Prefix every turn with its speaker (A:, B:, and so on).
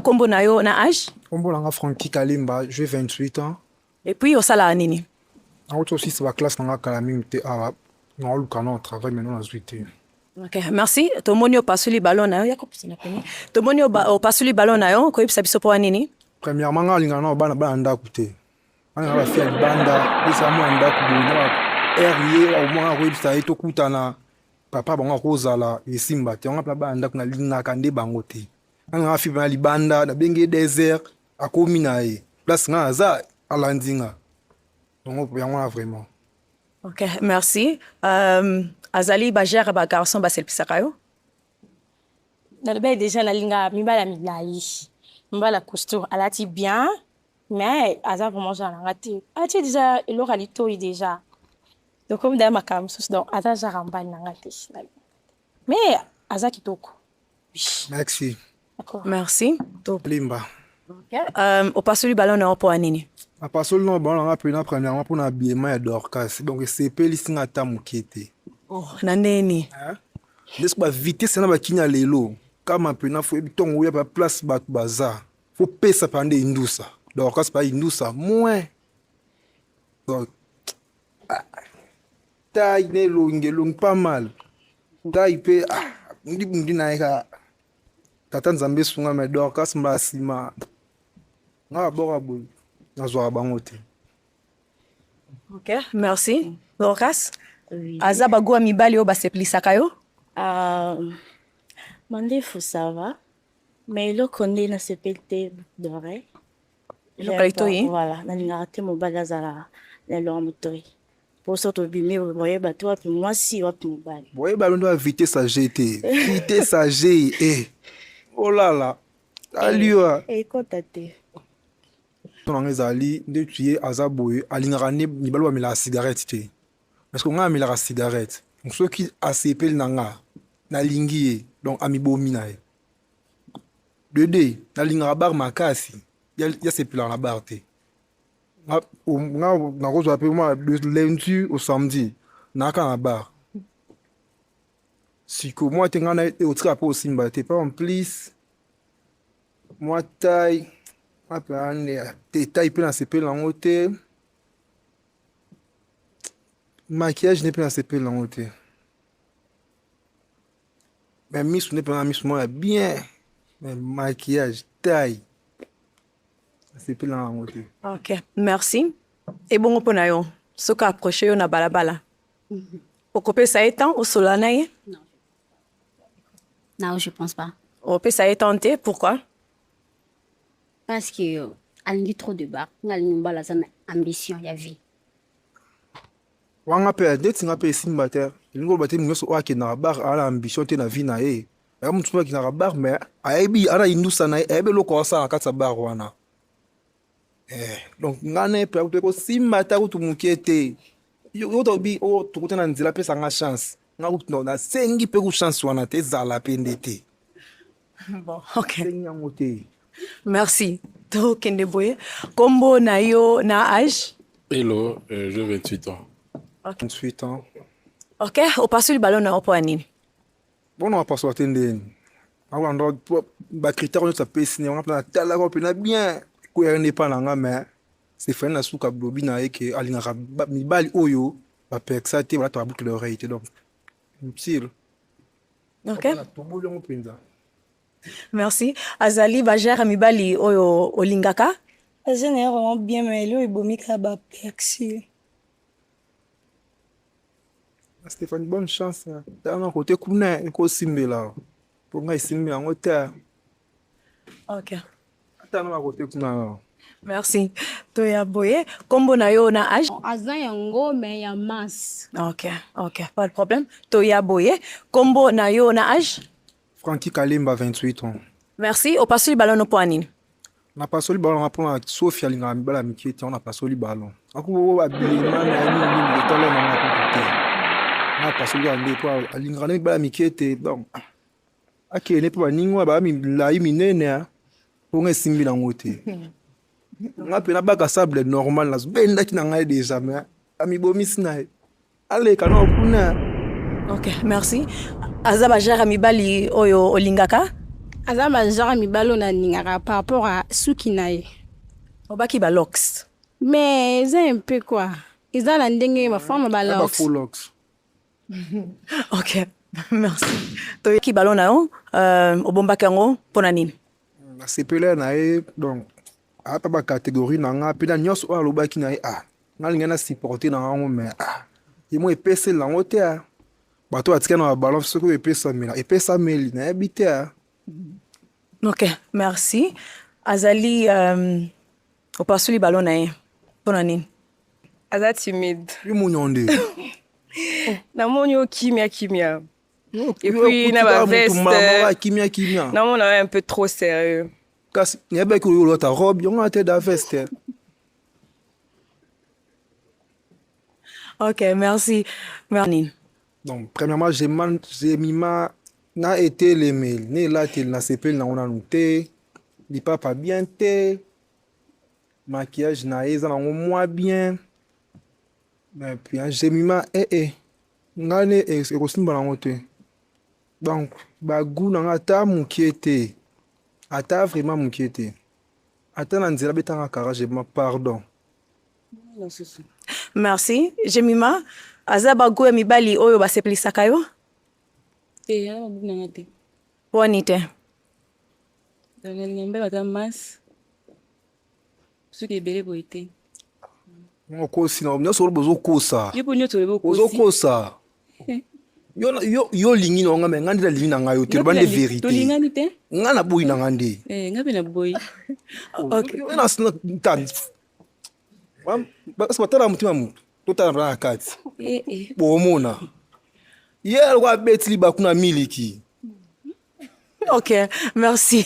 A: Kombo na yo na age? Kombo na nga Francky
B: Kalimba, j'ai 28 ans. Et puis osalaka
A: nini? Nauti osisa
B: ba classe na nga kala mingi te awa naoluka na travail maintenant nazwi te. Okay, merci.
A: Tomoni opasuli ballon na yo ya kopesa na pene. Tomoni opasuli ballon na yo koyebisa biso mpo nini? Premièrement nga alingana
B: na bana bana ndako te. Bana na bafia libanda pesa mwana ndako boye na heure ye akomona koyebisa ye tokutana papa bango akozala esimba te yango mpe bana ndako nalingaka nde bango te. nanga afima na libanda nabengi ye desert akomi na ye place nga aza alandi nga yango yango wana vraiment ok
A: merci um, azali bagere bagarçon baselipisaka yo
C: nalobaki deja nalinga mibala milai mibala costour alati bien mais aza vraiment genre nanga te atie deja eloko ya litoi deja tokomi daya makambo mosusu donc aza genre ya mbali nanga te Mais aza kitoko. Merci. Merci. To
A: Limba.
B: Okay.
A: Um, opasoli ballon na opo anini? Apasoli na
B: ballon na pena premièrement pour na habillement ya Dorcas. Donc sepeli singa ata moke te. Oh, na
A: neni? Hein?
B: Lesko ba vitesse na ba kinya lelo. Kama pena fo bitongo ya ba place ba baza. Faut pesa pande indusa. Dorcas pa indusa moins. Donc ah, tai na elongi elongi pas mal tai mpe ah, bundi bundi na ye kaka tata nzambe esunga me dorkas mba nsima nga baboka boye nazwaka bango te
A: ok merci dorkas aza
C: bagoa mibali
A: oyo baseplisaka yo ah,
C: mandefu sava me eloko nde nasepeli te dore eloko ya litoi voilà nalingaka te mobali azala na eloko ya motoi poso tobimi boye bato wapi mwasi wapi mobali boye balondo ya vitesse
B: age te vitesse age e olala aliwa ekota te tonanga ezali nde tuye aza boye alingaka nde mibali bamelaka cigarette te parce que ngai amelaka cigarette soki asepeli na ngai nalingi ye donc amibomi na ye Dede, nalingaka bar makasi. Ya sepelaka na bar te. Nga nakozwa pe ma de lundi au samedi naka na bar. Siko mwa te nga na otika pe osimba te. Pa en plus mwa taille apane te taille pe na sepele nango te. Maquillage ne pe na sepele nango te. Mais misu nde pema misu moko ya bien mais maquillage taille asepeli na yango te ok merci
A: ebongo mpo na yo soki approche yo na balabala okopesa ye temps osolola na ye
D: non je pense pas opesa ye temps te
A: pourquoi
D: parce que alingi trop de bar nga alingi mobala aza na ambition ya vie Wa nga
B: pe neti nga pe esimba te elingi koloba te moto nyonso oyo akendaka bar aa na ambition te na vie na ye aya moto mpe akendaka bar me ayebi ana indusa na ye ayebi eloko asala kati ya bar wana eh, donc nga na ye mpe akosimba ata kutu moke te yo tobi oyo oh, tokuta na nzela apesa nga chance nga kutu na nasengi mpe ku chance wana te ezala mpe nde te
A: bon ok sengi yango te
B: merci
A: tokende boye kombo na yo na age elo euh,
E: je 28 ans 28 ans
B: ok
A: opasoli balo na yo mpo ya nini bona
B: wapasola te ndeni akolanda bacritère nyonso apesi yango mpe natalaka mpena bien koyaka nde epai na nga mais sefani na suka blobi na ye ke alingaka mibali oyo ba persa te balata ba boucle d'oreille te donc sur
A: ok toboli yango
B: mpenza
A: merci azali bajare mibali oyo olingaka aza na ye vraiment
C: bien mais elio ebomi kaka ba persi
B: stéphane bonne chance tanga kote kuna ekosimbela mpo ngai esimbi yango te
A: ok atanga
B: na kote kuna no merci
A: toya boye nkombo na yo na age aza yango
D: me ya mas ok ok
A: pas de problème toya boye nkombo na yo na age franki kalemba
B: 28 ans merci opasoli
A: balono mpo ya nini napasoli
B: balon nga mpona sofi alingaka mibala mike te wana napasoli balon akubo abilima na ye mingi mingi etala na nga kutu te napasoli yango mpo alingaka na mibala mike te donc akende mpo baninga wana baa milai minene hein. mpo nga esimbi nango te nga mpe nabaka sable normal nazobendaki na ngai deja me amibomisi na ye aleka nao kuna
A: ok merci aza bajara mibali oyo olingaka aza
C: bajara mibali oyo nalingaka par rapport a suki na ye obaki balox
A: mais eza
C: un peu quoi eza na ndenge bafama balox
A: ok merci toyoki balo na yo euh, obombaki yango mpo na nini nasepela na
B: ye donc ata bacatégorie na nga mpe na nyonso oyo alobaki na ye ah nga lingai na supporte na yango mai ah ye mo epeseli yango te a ah. bato batika na babalance soki oyo epesamela epesameli nayebi te a
A: ah. ok merci azali euh, Opasuli ballon na ye pona nini? Aza
F: timide. Kimunya nde. Namoni yo kimia kimia. Et puis na ba veste. Mama kimia kimia. Namona
B: un peu trop
F: sérieux. Kasi nayebaki
B: oyo olata robe yango na te da veste.
A: Ok, merci. Merci. donc premièrement
B: je man je mima na etelemeli na elateli na sepeli nango nanu te lipapa bien te maquillage na ye eza nango mwa bien mais puis hein, je mima ee eh, eh. ngai ne eh, ekosimba nango te donc bagu na ngai ata mokie te ata vraiment mokie te ata na nzela betanga kara je mima pardon
A: merci jemima aza bago ya mibali oyo basepelisaka yo te
G: ya babuku nanga te wani te nalinga mbeba ata masi soki ebele boye te
B: okosi na nyonso oloba ozokosa ozokosa yo olingi na yonga me ngai nde nalingi na ngai yo te loba nde verité ngai
G: naboyi na ngai nde eh,
B: batala motima motu totala mpona na kati eh, eh. bomona ye aloko abeti
A: libaku
B: na miliki ok merci